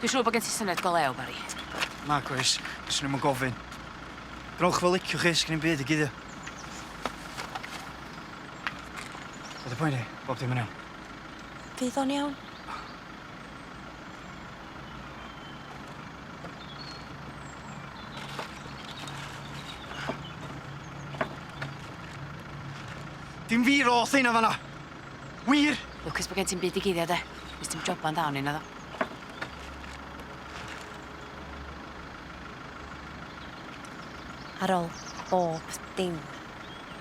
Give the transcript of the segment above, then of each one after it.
Dwi'n siŵr bod gen ti syniad go lew, Bari. Nag oes, fyswn i'm yn gofyn. Rhowch fel liciwch chi, sgen i'm byd i guddio. Be dy poeni? Bob dim yn iawn? Fydd o'n iawn? Dim fi roth heina fan 'na! Wir? Lwcus bo' gen ti'm byd i guddio de. Nes ti'm joban dda o'n i naddo? Ar ôl bob dim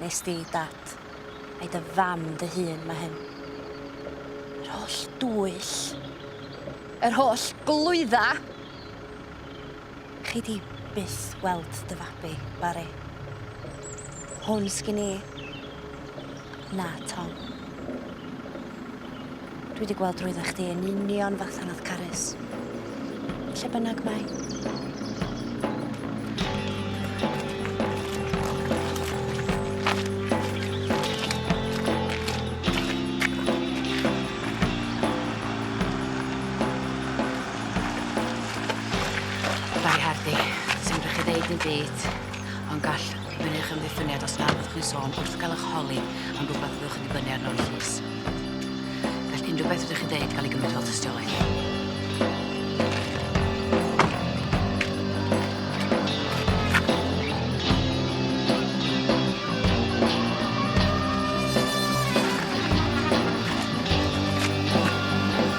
nes di dad ai dy fam dy hun ma' hyn. Yr holl dwyll. Yr holl glwydda. Chi 'di byth weld dy fabi, Bari. Hwn sgin i. Na, Tom. Dwi 'di gweld drwydda chdi yn union fatha nath Carys. Lle bynnag mae. Bari Hardy, sim rych chi ddeud dim byd, ond gall fynnu ych amddiffyniad os nad ydych chi'n sôn wrth gael ych holi am rwbath fyddwch yn dibynnu arno yn y llys. Gall unrhyw beth rydych chi'n ddeud gael ei gymryd fel tystiolaeth.